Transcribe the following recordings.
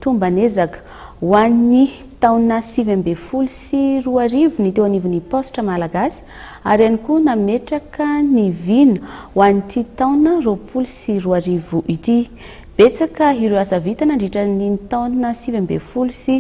Tomban'ezaka ho an'ny taona sivy ambin'ny folo sy roa arivo ny teo anivon'ny Paositra Malagasy ary ihany koa nametraka ny vina ho an'ity taona roapolo sy roa arivo ity. Betsaka ireo asa vita nandritra an'iny taona sivy ambin'ny folo sy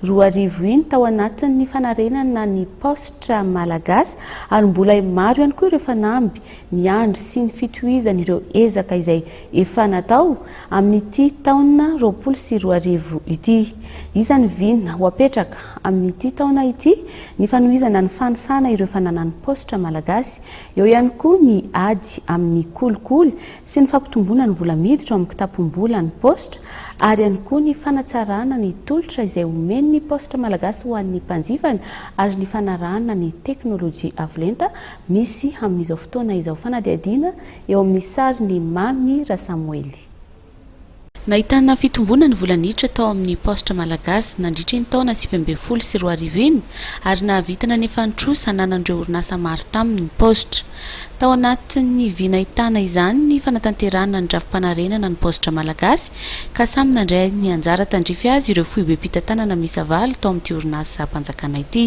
roa arivo iny tao anatin'ny fanarenana ny Paositra Malagasy ary mbola maro ihany koa ireo fanamby miandry sy ny fitohizan'ireo ezaka izay Efa natao amin'ity taona roapolo sy roa arivo ity. Iza ny vina ho apetraka amin'ity taona ity? Ny fanohizana ny fanisana ireo fananan'ny paositra malagasy. Eo ihany koa ny ady amin'ny kolikoly sy ny fampitomboana ny vola miditra ao amin'ny kitapom-bola ny paositra ary ihany koa ny fanatsarana ny tolotra izay omen'ny paositra malagasy ho an'ny mpanjifany ary ny fanarahana ny teknolojia avolenta misy amin'izao fotoana izao. Fanadihadiana eo amin'ny sarin'i Mamy Rasamoely. Nahitana fitomboana ny vola niditra tao amin'ny paositra malagasy nandritra iny taona sivy ambin'ny folo sy roa arivo iny ary nahavita nanefa ny trosa ananan'ireo orinasa maro taminy ny paositra. Tao anatin'ny vy nahitana izany ny fanatanterahana ny drafi-panarenana ny paositra malagasy ka samy nandray ny anjara tandrify azy ireo foibem-pitantanana miisa valo tao amin'ity orinasam-panjakana ity.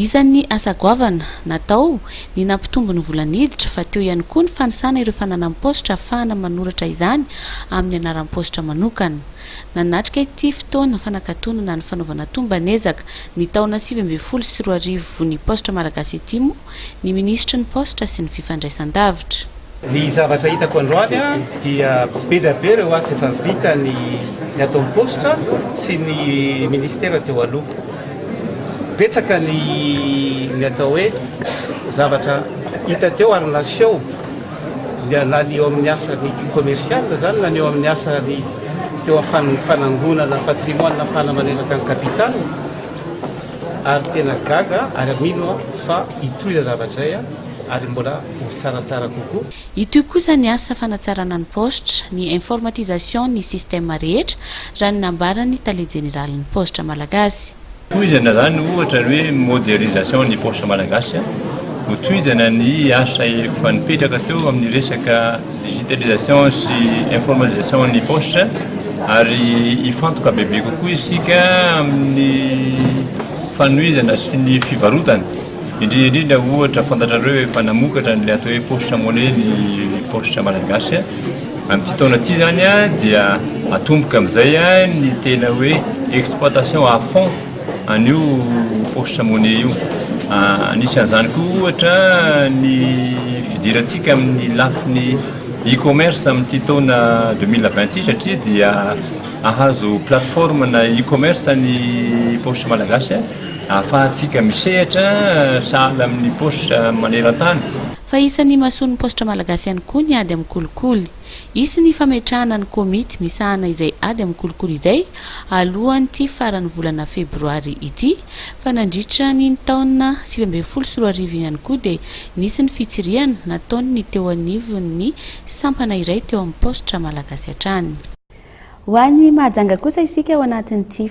Isan'ny asa goavana natao ny nampitombo ny vola niditra fa teo ihany koa ny fanisana ireo fananam-paositra hahafahana manoratra izany amin'ny anaram-paositra manokana. Nanatrika ity fotoana fanakatonana ny fanaovana tomban'ezaka ny taona sivy ambin'ny folo sy roa arivo ny Paositra Malagasy ity moa ny minisitry ny Paositra sy ny Fifandraisan-davitra. Ny zavatra hitako androany dia be dia be ireo asa efa vita ny ataon'ny Paositra sy ny minisitera teo aloha. Betsaka ny atao hoe zavatra hita teo ary naseho na ny eo amin'ny asa ny commercial izany na ny eo amin'ny asa ny teo amin'ny fanangonana patrimoine na fanamanenaka ny capital. Ary tena gaga ary mino aho fa hitohy zay zavatra zay ary mbola ho tsaratsara kokoa. Hitohy kosa ny asa fanatsarana ny paositra, ny informatisation ny système rehetra, raha ny nambaran'ny tale jeneralin'ny paositra malagasy. Tohizana zany ohatra ny hoe modernisation ny paositra malagasy, ho tohizana ny asa efa nipetraka teo amin'ny resaka. digitalisation sy informatisation ny poche ary hifantoka bebe kokoa isika amin'ny fanohizana sy ny fivarotana indrindra indrindra ohatra fantatrareo efa namokatra an'ilay atao hoe poche monnaie ny poche malagasy amin'ity taona ity izany dia atomboka amin'izay ny tena hoe exploitation à fond An'io Osh Money io. Anisan'izany koa ohatra ny fijerantsika amin'ny lafiny e-commerce amin'ity taona deux mille vingt ity satria dia ahazo plateforme na e-commerce ny Poche Malagasy ahafahantsika misehatra sahala amin'ny Poche maneran-tany. Fa isan'ny imasoan'ny Paositra Malagasy ihany koa ny ady amin'ny kolikoly. Hisy ny fametrahana ny komity misahana izay ady amin'ny kolikoly izay alohan'ity faran'ny volana febroary ity, fa nandritra ny ny taona sivy ambin'ny folo sy roa arivo ihany koa dia nisy ny fitsirihana nataon'ny teo anivon'ny sampana iray teo amin'ny paositra malagasy hatrany. Ho any Mahajanga kosa isika ao anatin'ity.